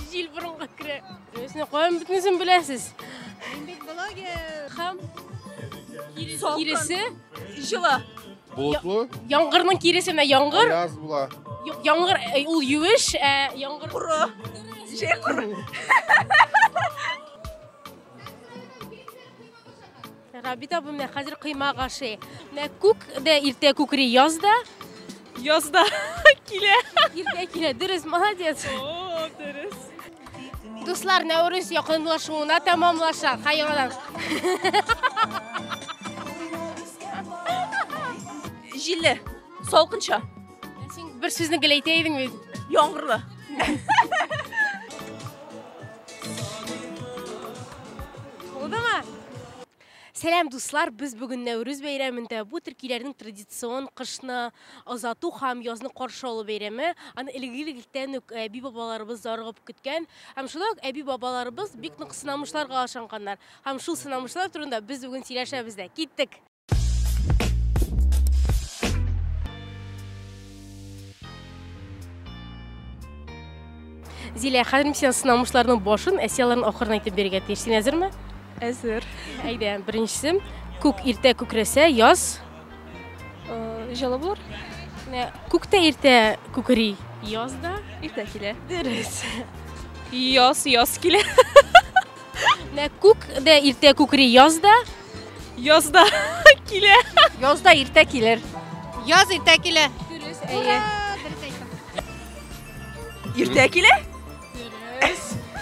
Җил борынга керә. Үзенә каян бөтенесен беләсез? Мин бит блогер. Хам. Киресе. Җылы. Болытлы. Яңгырның киресе менә яңгыр. Яз була. Яңгыр э, ул юеш, ә яңгыр коры. Җәй коры. Рабит абым менә хәзер коймак ашый. Менә күк дә иртә күкри, яз да. Яз да килә. Иртә килә, дөрес, молодец. О, дөрес. Дуслар, Нәүрүз якынлашуына тәмамлаша. Хайрадан. Җилле, салкынча. Син бер сүзне гел әйтә идең бит. Яңгырлы. Булдымы? Сәлам дуслар, без бүген Нәүрүз бәйрәмендә бу төркиләрнең традицион кышны озату һәм язны каршы алу бәйрәме. Аны элек-электән үк әби бабаларыбыз зарыгып көткән. Һәм шулай ук әби бабаларыбыз бик нык сынамышларга ашанганнар. Һәм шул сынамышлар турында без бүген сөйләшәбез дә. Киттек! Зилә, хәзер мин сиңа сынамышларның башын, әсияларын ахырын әйтеп бирергә тиеш. Син әзерме? Әзер. Әйдә, беренчесе. Күк иртә күкрәсә, яз. Э, Җылы булыр. Менә Күктә иртә күкри, яз да. Иртә килә. Дөрес. Яз, яз килә. Менә күк дә иртә күкри, яз да. Язда килә. Язда иртә килер. Яз иртә килә. Дөрес, әйе. Иртә килә?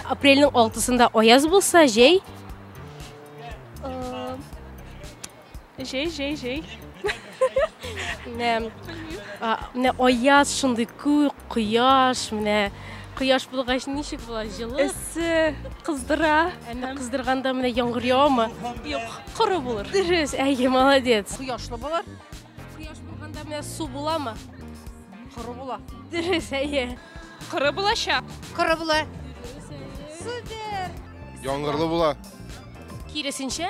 Апрельнең 6-сында аяз булса, җәй Җәй, җәй, җәй. Менә менә аяз шундый күк, кояш, менә кояш булгач ничек була? Җылы. Эссе, кыздыра. Әмма кыздырганда менә яңгыр явамы? Юк, коры булыр. Дөрес, әйе, молодец. Кояшлы булыр. Кояш булганда менә су буламы? Коры була. Дөрес, әйе. Коры булачак. Коры була. Супер. Яңгырлы була. Киресенчә?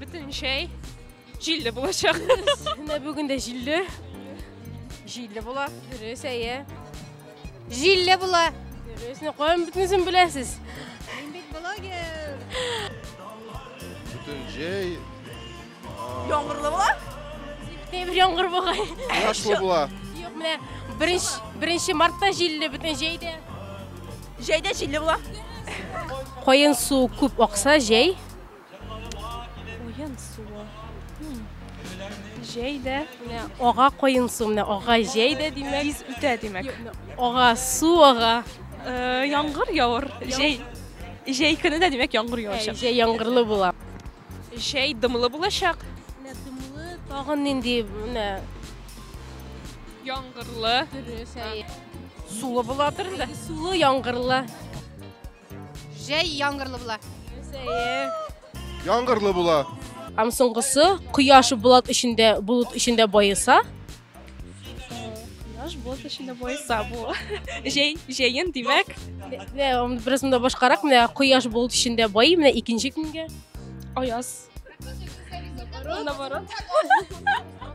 Бөтен җәй җилле булачак. Менә бүген дә җилле. Җилле була. Дөрес, әйе. Җилле була. Дөрес, ну каян бөтенесен беләсез? Мин бит блогер. Бөтен җәй Яңгырлы була? Тәбер яңгыр бугай. кояшлы була. Юк, менә беренче беренче мартта җилле бөтен җәйдә. Җәйдә җилле була. Каен су күп акса җәй Куен суы. Җәй дә менә ага куен су, менә ага җәй дә димәк. Тиз үтә димәк. Ага су ага. Э, Яңгыр явыр. Җәй. Җәй көне дә димәк яңгыр Ә, явачак. Җәй яңгырлы була. Җәй дымлы булачак. Менә дымлы, тагын нинди менә Яңгырлы. дөрес. әй. Сулы буладыр инде. Сулы яңгырлы. Җәй яңгырлы була. Яңгырлы була. Һәм соңгысы кояш булат эчендә булут эчендә баеса. Кояш булат эчендә баеса бу. Җәй җәен димәк. Менә бераз монда башкарак менә кояш булут эчендә бай, менә икенче көнгә. Аяз. Наоборот.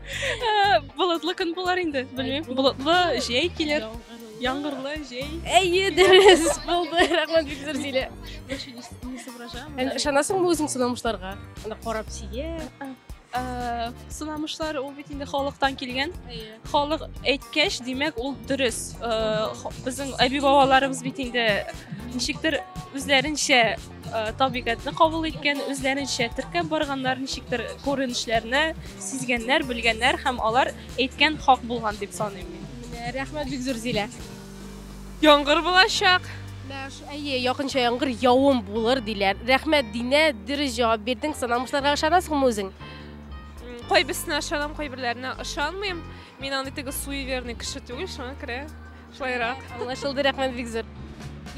Э, болытлы көн болар инде, белмим. Болытлы җәй килер. Яңгырлы җәй. Әйе, дөрес булды. Рәхмәт бик зур Зилә. Не соображаем. Ышанасыңмы үзең сынамышларга? Анда карап сия. Э, сынамышлар ул бит инде халыктан килгән. Халык әйткәч, димәк, ул дөрес. Э, Безнең әби-бабаларыбыз бит инде ничектер үзләренчә Э, табигатьне кабул иткән үзләренчә теркәп барганнар ничектер күренешләрне сизгәннәр белгәннәр һәм алар әйткән хак булган дип саныйм мин рәхмәт бик зур зилә яңгыр булачак әйе якынча яңгыр явым булыр диләр рәхмәт динә дөрес җавап бирдең саналмышларга ышанасыңмы үзең кайберсенә ышанам кайберләренә ышанмыйм мин андый теге суеверный кеше түгел шуңа күрә Шулайрак. Аңлашылды, рәхмәт бик зур.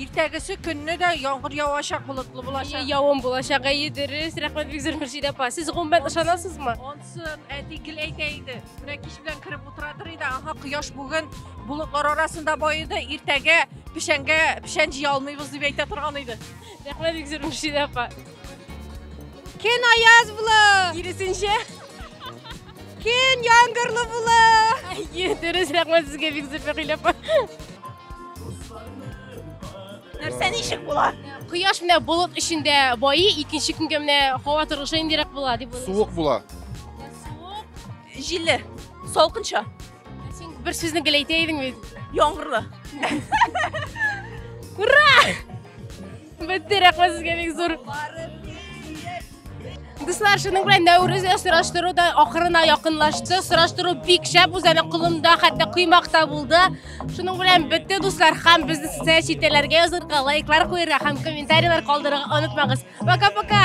Иртәгесе көнне дә яңгыр явачак болытлы булачак. Явым булачак, әйе дөрес. Рәхмәт бик зур Мөршидә апа. Сез гомумән ышанасызмы? Онсын, әти гел әйтә иде. Менә кич белән кереп утыратыр иде. Ага, кояш бүген болытлар арасында баеды. Иртәгә печәнгә печән җыя алмыйбыз дип әйтә торган иде. Рәхмәт бик зур Мөршидә апа. Кен аяз була. Киресенчә. Көн яңгырлы була. Әйе, дөрес, рәхмәт сезгә бик зур Фәгыйлә апа. Нәрсә ничек була? Кояш менә болыт эчендә байи, икенче көнгә менә һава торышы ниндирәк була дип уйлыйсыз? Суык була. Суык. Җилле, салкынча, Син бер сүзне гел әйтә идең бит. яңгырлы. Бетте, рәхмәт сезгә бик зур. Дуслар, шуның белән Нәүрүзгә сораштыру да ахырына якынлашты. Сораштыру бик шәп үз әле кулымда, хәтта коймак та булды. Шуның белән бетте, дуслар, һәм безне социаль челтәрләргә язырга, лайклар куярга һәм комментарийлар калдырырга онытмагыз. Пока-пока!